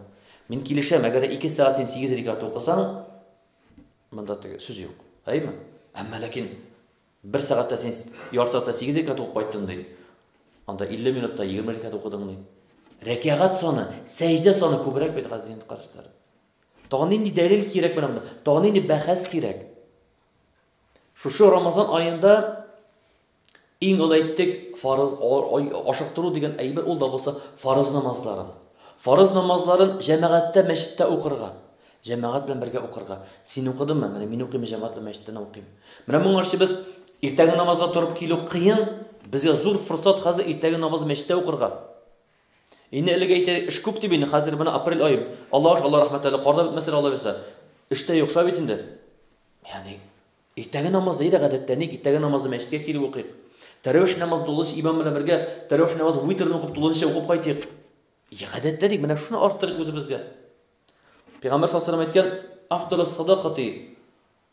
Мин килешәм, әгәр 2 сәгать син 8 рәкәгать укысаң, монда теге сүз юк. Әйме? Әмма ләкин 1 сәгатьтә син ярты сәгатьтә 8 рәкәгать укып кайттың ди. Анда 50 минутта 20 рәкәгать укыдың ди. Рәкәгать саны, сәҗдә саны күбрәк бит газиз карашлар. Тагын нинди дәлил кирәк менә монда? Тагын нинди бәхәс кирәк? Шушы Рамазан аенда иң олы әйттек, фарыз ашыктыру дигән әйбер ул да булса фарыз намазларын. Фарыз намазларын җәмәгатьтә мәчеттә укырга. Җәмәгать белән бергә укырга. Син укыдыңмы? Менә мин укыйм, җәмәгать белән мәчеттә укыйм. Менә моңа өчен без иртәге намазга торып килү кыен, безгә зур форсат хәзер иртәге намазны мәчеттә укырга. Инде элек әйтәйек, эш күп дип инде, хәзер менә апрель ае. Аллага шөкер, Алла рәхмәт әле, кар да бетмәсә дә алайса. Эш тә юк, шулай бит инде. Ягъни, иртәге намаз да иде гадәттә, ник иртәге намазы мәчеткә килеп укыйк. Тәравих намазы тулынча имам белән бергә тәравих намазы витрны укып тулынча укып кайтыйк. Я гадәттә ник менә шуны арттырыйк үзебезгә. Пәйгамбәр саллаллаху алейһи ва сәлләм әйткән, "Афдалус садакати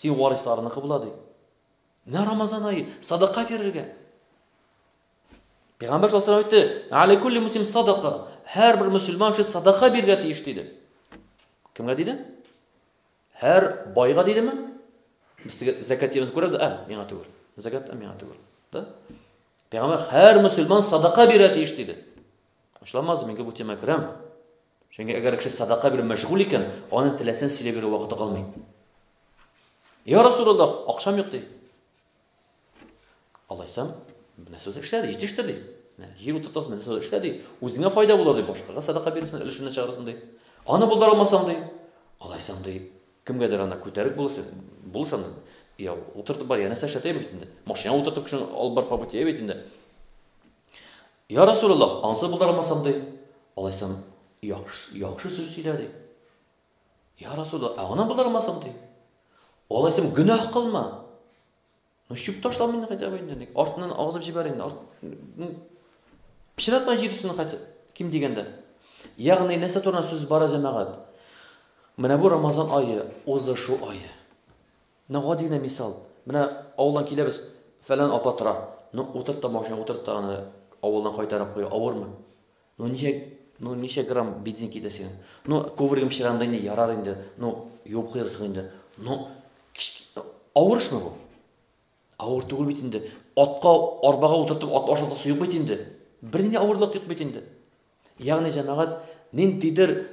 Син варисларыныкы була ди. Менә Рамазан айы, садака бирергә. Пәйгамбәр саллаллаху алейһи әйтте, "Али кулли муслим садака." Һәр бер мусульман кеше садака бирергә тиеш диде. Кемгә диде? Һәр байга дидеме? Без теге закат дигән күрәбез, ә, миңа түгел. Закат миңа түгел. Да? Пәйгамбәр һәр мусульман садака бирә тиеш диде. Ачламаз, мин бу тема керәм. Чөнки әгәр кеше садака белән мәшгуль икән, аның теләсен сөйләп йөрү вакыты калмый. Я Расулуллах, акчам юк ди. Алайса, менә сүз эшлә ди, җитештер ди. Җир утыртасың, менә сүз эшлә ди. Үзеңә файда булыр ди, башкага садака бирсен, өлешенә чыгарсың ди. Аны булдыра алмасаң ди. Алайса ди, кемгәдер ана күтәреп булышын, булышын. Я утыртып бар, янәсә шәтәй бит инде. Машина утыртып кешене алып бар побытия бит инде. Йа Рәсүләллаһ, аңсыз булдырмасам, ди. Алайсам, яхшы сүз сөйлә, ди. Йа Рәсүләллаһ, ә гына булдырмасам, ди. Алайсам, гөнаһ кылма. Ну, чүп ташла мине хәтта инде, ник артыннан агызып җибәр инде. Арт... Ну, пычратма җир өстенә хәтта ким дигәндә. Ягъни нәрсә турында сүз бара, җәмәгать? Менә бу Рамазан ае, узышу ае. Менә гади генә мисал. Менә авылдан киләбез, фәлән апа тора. Ну, утырт та машина, утырт та аны авылына кайтарып куй, авырмы? Ну, ничә, ну, ничә грамм бензин китә синең? Ну, ковригым чиранды инде, ярар инде, ну, юып куярсың инде. Ну, авыр эшме бу? Авыр түгел бит инде. Атка, арбага утыртып, ат ашатасы юк бит инде. Бернинди авырлык юк бит инде. Ягъни, җәмәгать, ниндидер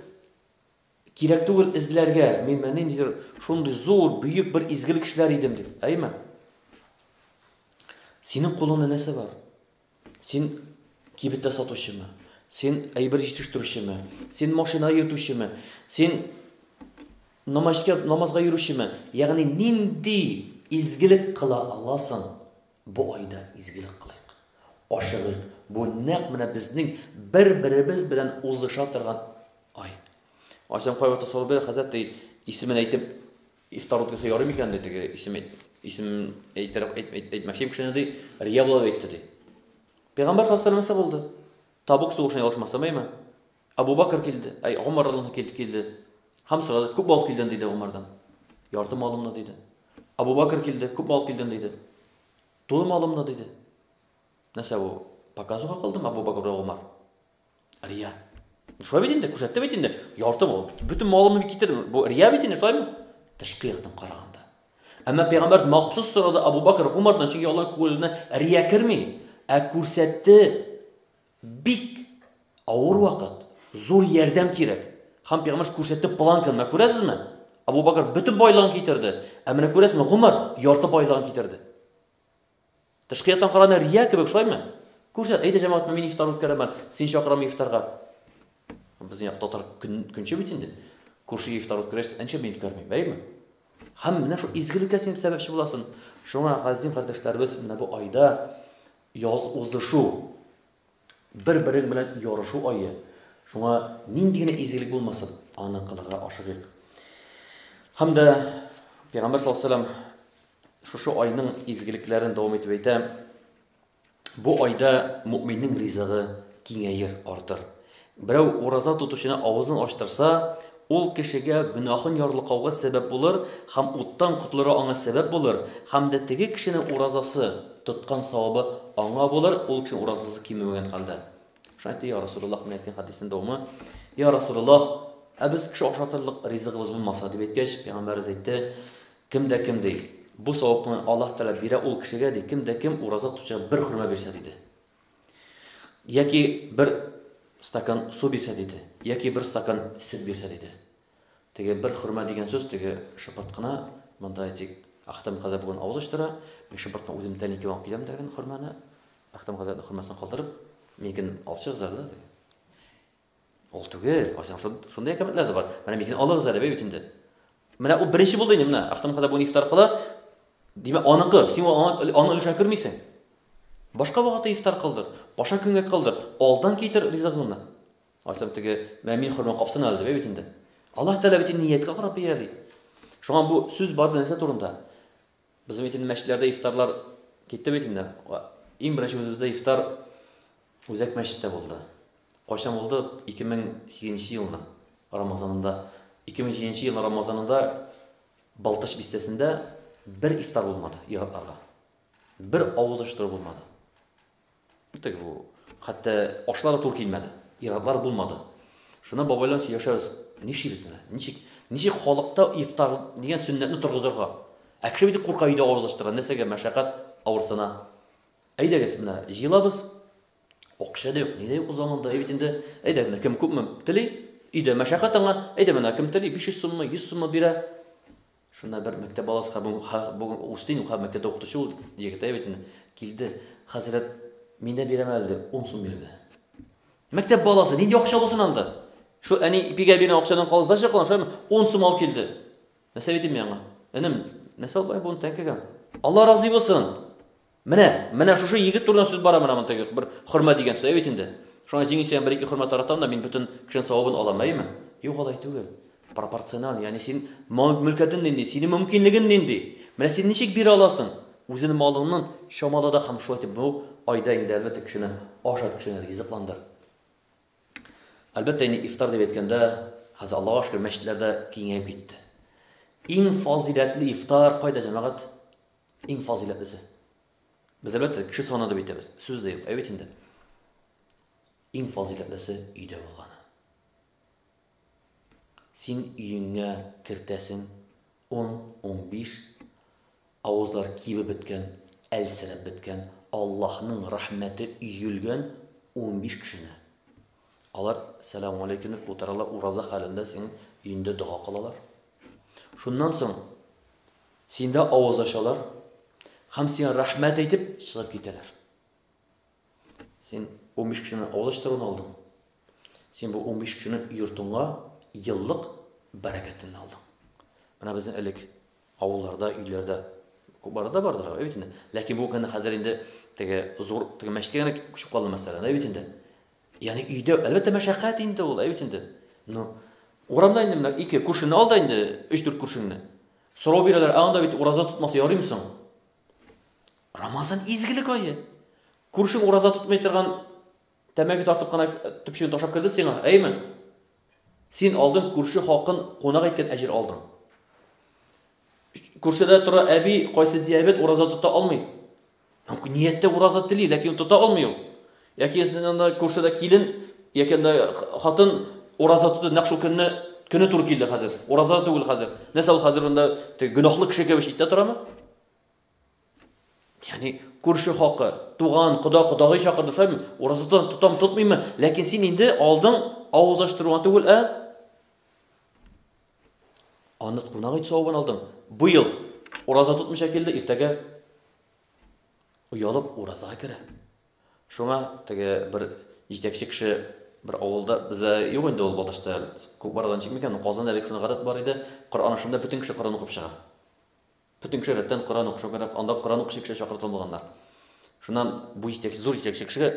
Кирәк түгел эзләргә, мин менә ниндидер шундый зур, бөек бер изгелек эшләр идем дип, әйме? Синең кулыңда нәрсә бар? Син кибеттә сатучымы? Син әйбер җитештерүчеме? Син машина йөртүчеме? Син намазга намазга йөрүчеме? Ягъни нинди изгелек кыла аласың? Бу айда изгелек кылыйк. Ашыгыйк, бу нәкъ менә безнең бер-беребез белән узыша торган ай. Айсәм кайвакыт сорау бирә, хәзрәт ди, исемен әйтеп ифтар үткәрсә ярый микән ди теге исем исем әйтер әйтмәкчем кешене ди, рия булып әйтте ди. Пәйгамбәр саллаллаху алейһи булды. Табук сугышына ялгышмасам әйме? Абу Бәкер килде, әй, Гомәр радиллаһу анһу килде һәм сорады, Күпме алып килдең? диде Гомәрдән. Ярты малымны, диде. Абу Бәкер килде, Күпме алып килдең? диде. Тулы малымны, диде. Нәрсә бу? Показуха кылдымы Абу Бәкер белән Гомәр? Рия. Шулай бит инде, күрсәтте бит инде. Ярты мал, бөтен малымны китердем. Бу рия бит инде, шулаймы? Тышкы яктан караганда. Әмма пәйгамбәр махсус сорады Абу Бәкер Гомәрдән, чөнки алар күңеленә рия керми. Ә күрсәтте Бик авыр вакыт, зур ярдәм кирәк. Һәм пәйгамбәрс күрсәтте планканы, менә күрәсезме? Абу Бакр бөтен байлыгын китерде, ә менә күрәсезме, Гомар ярты байлыгын китерде. Тышкы яктан караганда рия кебек, шулаймы? Күрсәт, әйдә җәмәгать, мин ифтар үткәрәмен, син чакырам ифтарга. Безнең як татар көн көнче бит инде. Күрше ифтар үткәрәч, әнчә мин үткәрмим, әйеме? Һәм менә шул изгелеккә син сәбәпче буласың. Шуңа газим кардәшләребез менә бу айда Яз узышу, бер-берең белән ярышу ае. Шуңа нинди генә изгелек булмасын, аны кылырга ашыгыйк. Һәм дә Пәйгамбәр саллаллаһу алейһи ва сәлләм шушы айның изгелекләрен дәвам итеп әйтә. Бу айда мөэминнең ризыгы киңәер, артыр. Берәү ураза тотучыны авызын ачтырса, ул кешегә гөнаһын ярлыкауга сәбәп булыр һәм уттан котылырга аңа сәбәп булыр, һәм дә теге кешенең уразасы тоткан савабы аңа булыр, ул кешенең уразасы кимемәгән хәлдә. Шуңа әйтте, Йа Расулуллах, менә әйткән хәдиснең дәвамы, Йа Расулуллах, ә без кеше ашатырлык ризыгыбыз булмаса, дип әйткәч, пәйгамбәребез әйтте, кем дә кем ди, бу савапны Аллаһ Тәгалә бирә ул кешегә, ди, кем дә кем ураза тотучыга бер хөрмә бирсә, диде. Яки бер стакан су бирсә, диде, яки бер стакан сөт бирсә, диде. Теге бер хөрмә дигән сүз теге шыпырткына, монда әйтик, Ахтам хәзрәт бүген авыз ачтыра, мин шыпырткына үзем тән ике алып киләм дигән хөрмәне, Ахтам хәзрәтнең хөрмәсен калдырып, миген алчык зәрлә диде. Ул түгел, кайсың шундый әкәмәтләр дә бар. Менә микин алыгыз әле бит инде. Менә ул беренче булды инде менә. Ахтам хәзер бу ифтар кыла. Димәк, аныкы, син аны аны өлешә кермисең. Башка вакытта ифтар кылдыр, башка көнгә кылдыр, алдан китер ризыгыңны. Айсам теге мәмин хөрмә капсын әле дип бит инде. Аллаһ Тәгалә бит нияткә карап бияли. Шуңа бу сүз барды нәрсә турында? Безнең бит инде мәчетләрдә ифтарлар китте бит инде. Иң беренче үзебездә ифтар Үзәк мәчеттә булды. Кайчан булды? 2008 елның Рамазанында. 2007 елның Рамазанында Балтач бистәсендә бер ифтар булмады ир-атларга. Бер авыз ачтыру булмады. Битек бу. Хәтта ашлар да туры килмәде. Иратлар булмады. Шуннан бабай белән сөйләшәбез. Нишлибез менә? Ничек? Ничек халыкта ифтар дигән сөннәтне торгызырга? Ә кеше бит курка өйдә авыз ачтыра. Нәрсәгә мәшәкать авырсына? Әйдәгез менә, җыелабыз. Акча да юк, ни дә юк заманда. Әй бит инде, әйдә менә кем күпме тели, өйдә мәшәкать аңа. Әйдә менә кем тели 500 суммы, 100 суммы бирә. Шунда бер мәктәп баласы һәм бүген ха- бүген Устин ха- мәктәптә укытучы ул егет әйбәт инде. Килде, хәзрәт, мин дә бирәм әле дип, 10 сум бирде. Мәктәп баласы нинди акча булсын анда? Шул әни ипигә биргән акчадан калызда чыккан, шулаймы? 10 сум алып килде. Нәрсә әйтим мин аңа? Энем, нәрсә алып бай буны тәңкәгә? Алла разый булсын. Менә, менә шушы егет турында сүз бара менә монда бер хөрмә дигән сүз бит инде. Шуңа җиңел сиңа бер-ике хөрмә таратам да мин бөтен кешенең савабын алам, әйеме? Юк, алай түгел. Пропорциональ, ягъни син мөлкәтен нинди, синең мөмкинлеген нинди? Менә син ничек бирә аласың? Үзенең малыңнан чамала да һәм шулай итеп бу айда инде әлбәттә кешене ашат, кешене ризыкландыр. Әлбәттә, инде ифтар дип әйткәндә, хәзер Аллаһу шөкер, мәчетләрдә киңәеп китте. Иң фазиләтле ифтар кайда, җәмәгать? Иң фазыйләтлесе. Без әлбәттә кеше саны дип әйтәбез. Сүз дә юк. Ә бит инде иң фазыйләтлесе өйдә булганы. Син өеңә кертәсең 10-15 авызлар кибеп беткән, әлсерәп беткән, Аллаһның рәхмәте өелгән 15 кешене. Алар сәлам алейкум дип утыралар, ураза хәлендә син өендә дога кылалар. Шуннан соң Синдә авыз ачалар һәм сиңа рәхмәт әйтеп чыгып китәләр. Син 15 кешенең авыз ачтыруын алдың. Син бу 15 кешенең йортыңа еллык бәрәкәтен алдың. Менә безнең элек авылларда, өйләрдә күпләре дә бардыр, әйт инде. Ләкин бу гына хәзер инде теге зур теге мәчеткә генә күчеп калды мәсәлән, әйт инде. Ягъни өйдә әлбәттә мәшәкать инде ул, әйт инде. Ну, урамда инде менә ике күршене алда инде, 3-4 күршеңне. Сорау бирәләр, ә анда бит ураза тотмаса ярыймы соң? Рамазан изгелек ае. Күршең ураза тотмый торган тәмәке тартып кына төпчеген ташап керде сиңа, әйме? Син алдың күрше хакын кунак иткән әҗер алдың. Күршедә тора әби кайсы диабет ураза тота алмый. Нияттә ураза тели, ләкин тота алмый ул. Яки анда күршедә килен, яки анда хатын ураза тотты, нәкъ шул көнне көне туры килде хәзер. Ураза түгел хәзер. Нәрсә ул хәзер анда гөнаһлы кеше кебек читтә торамы? Яни күрше хакы, туган, кода, кодагый чакырды шулаймы? Ураза тотам, тотмыймы? Ләкин син инде алдың авыз ачтыруга түгел, ә Аны кунак ит савабын алдың. Быел ураза тотмыйча килде, иртәгә оялып уразага керә. Шуңа теге бер җитәкче кеше бер авылда бездә юк инде ул Балтачта күп барадан чикми икән, Казанда әлеге шундый гадәт бар иде, Коръән ашында бөтен кеше Коръән укып чыга. Бөтен кеше рәттән Коръән укып чыга, анда Коръән укучы кеше чакыртылган булганнар. Шуннан бу җитәкче, зур җитәкче кешегә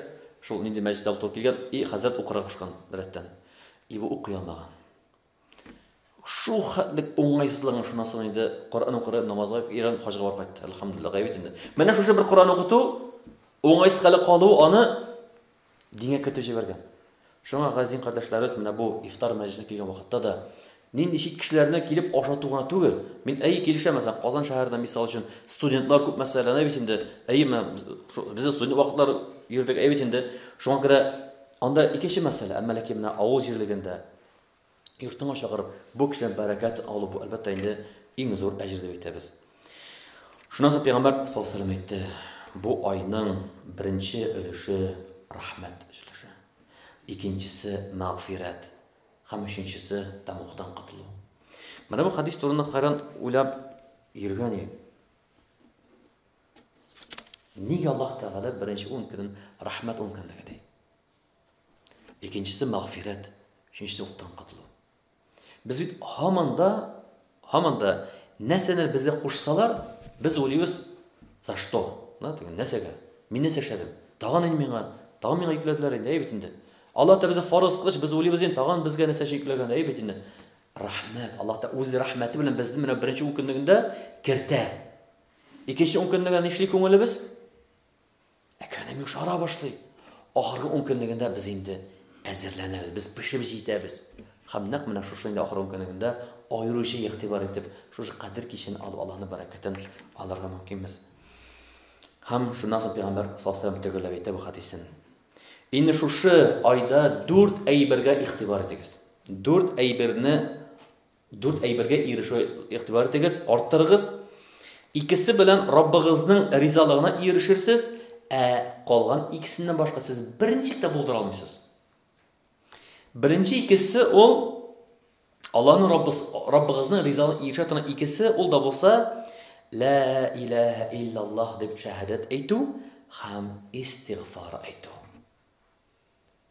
шул нинди мәҗлестә утырып килгән, и хәзрәт укырга кушкан рәттән. И бу укый алмаган. Шул хәтлек уңайсызлыгың шуннан соң инде Коръән укыры, намазга иран хаҗга барып кайтты. Әлхәмдулилла, гайбит инде. Менә шушы бер Коръән укыту, уңайсыз хәле калу аны дингә кертеп җибәргән. Шуңа газин кардәшләребез менә бу ифтар мәҗлисенә килгән вакытта да нинди чит кешеләрне килеп ашату гына түгел. Мин әй килешәм, мәсәлән, Казан шәһәрендә мисал өчен студентлар күп мәсьәләләрне бит инде, әй менә без студент вакытлар йөрдек, әй бит инде. Шуңа күрә анда икенче мәсьәлә, әмма ләкин менә авыл җирлегендә йортыңа чакырып, бу кешедән бәрәкәт алу, бу, әлбәттә, инде иң зур әҗер дип әйтәбез. Шуннан соң пәйгамбәр саллаллаһу алейһи ва сәлләм әйтте, бу айның беренче өлеше рәхмәт өлеше, икенчесе мәгъфирәт һәм өченчесе тамуктан котылу. Менә бу хадис турында хайран уйлап йөргән идем. Нигә Аллаһ Тәгалә беренче 10 көнен рәхмәт 10 көнлеге ди? Икенчесе мәгъфирәт, өченчесе уттан котылу. Без бит һаман да, һаман да нәрсәне безгә кушсалар, без уйлыйбыз, за что? Да, теге нәрсәгә? Мин нәрсә эшләдем? Тагын инде миңа, тагын миңа йөкләделәр инде, әй бит инде. Аллаһ та безгә фарыз кылыч, без уйлыйбыз инде, тагын безгә нәрсә йөкләгән, әй бит инде. Рәхмәт, Аллаһ та үз рәхмәте белән безне менә беренче ун көнлегендә кертә. Икенче ун көнлегендә нишли күңелебез? Әкренләп йомшара башлый. Ахыргы ун көнлегендә без инде әзерләнәбез, без пешеп җитәбез. Һәм нәкъ менә шушы инде ахыргы ун көнлегендә аеруча игътибар итеп, шушы кадер кичен алып Аллаһның бәрәкәтен алырга мөмкинбез. Һәм шуннан соң пәйгамбәр саллаллаһу төгәлләп әйтә бу хәдисен. Инде шушы айда дүрт әйбергә игътибар итегез. Дүрт әйберне Дүрт әйбергә ирешү игътибар итегез, арттырыгыз. Икесе белән Раббыгызның ризалыгына ирешерсез, ә калган икесеннән башка сез берничек тә булдыра алмыйсыз. Беренче икесе ул Аллаһның Раббыз, Раббыгызның ризалыгына ирешә торган икесе ул да булса ла илаһа иллаллаһ дип шәһадәт әйтү һәм истигъфар әйтү.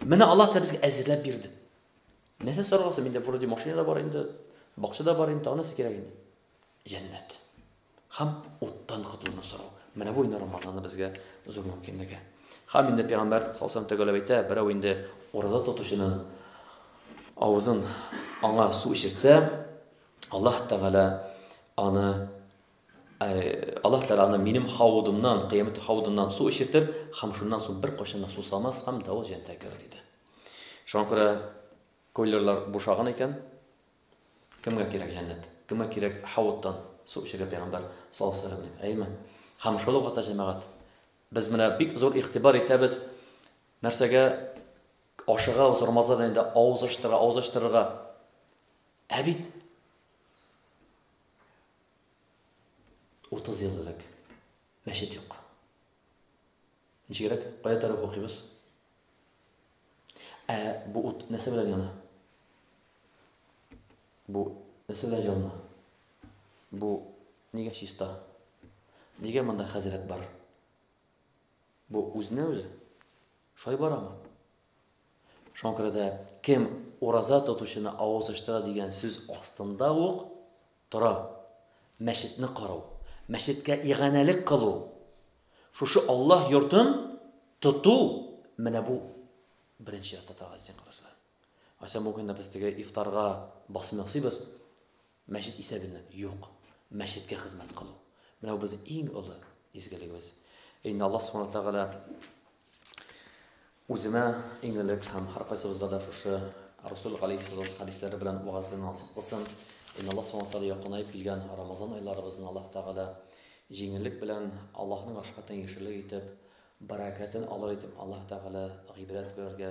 Менә Аллаһ та безгә әзерләп бирде. Нәрсә сорарга соң? Миндә вроде машина да бар инде, бакча да бар инде, тагын нәрсә кирәк инде? Җәннәт. Һәм уттан котылуны сорау. Менә бу инде Рамазанны безгә зур мөмкинлеге. Һәм инде пәйгамбәр салсам төгәләп әйтә, берәү инде ураза тотучының авызын аңа су эчертсә, Аллаһ Тәгалә аны Аллаһ Тәгалә аны минем хавудымнан, кыямәт хавудыннан су эчертер һәм шуннан соң беркайчан да сусамас һәм давыл җәннәткә керер, диде. Шуңа күрә койлерлар бушаган икән, кемгә кирәк җәннәт? Кемгә кирәк хавуттан су эчәргә пәйгамбәр саллаллаһу алейһи ва сәлләм? Әйме? Һәм шул вакытта җәмәгать без менә бик зур игътибар итәбез нәрсәгә ашыгабыз Рамазан инде авыз ачтыра, авыз ачтырырга. Ә бит Утыз ел элек мәчет юк. Ничегрәк, кая тарих укыйбыз? Ә бу ут нәрсә белән яна? Бу нәрсә белән җылына? Бу нигә чиста? Нигә монда хәзрәт бар? Бу үзенә үзе шулай барамы? Шуңа күрә дә кем ураза тотучыны авыз ачтыра дигән сүз астында ук тора. Мәчетне карау, мәчеткә иганәлек кылу, шушы Аллаһ йортын тоту, менә бу беренче чиратта торган истиңкарчылык. Ася бу көнне без теге ифтарга басым ясыйбыз. Мәчет исәбеннән, юк. Мәчеткә хезмәт кылу. Менә бу безнең иң олы изгелегебез. Инде Аллаһ Субхану Тәгалә үземә иң элек һәм һәркайсыбызга да шушы Расул алейхиссалам хәдисләре белән вагазлы насыйп кылсын. Инде Аллаһ Субхану Тәгалә якынаеп килгән Рамазан айларыбызны Аллаһ Тәгалә җиңеллек белән Аллаһның рәхмәтен яшерлек итеп, бәрәкәтен алыр итеп Аллаһ Тәгалә гыйбрәт күрергә,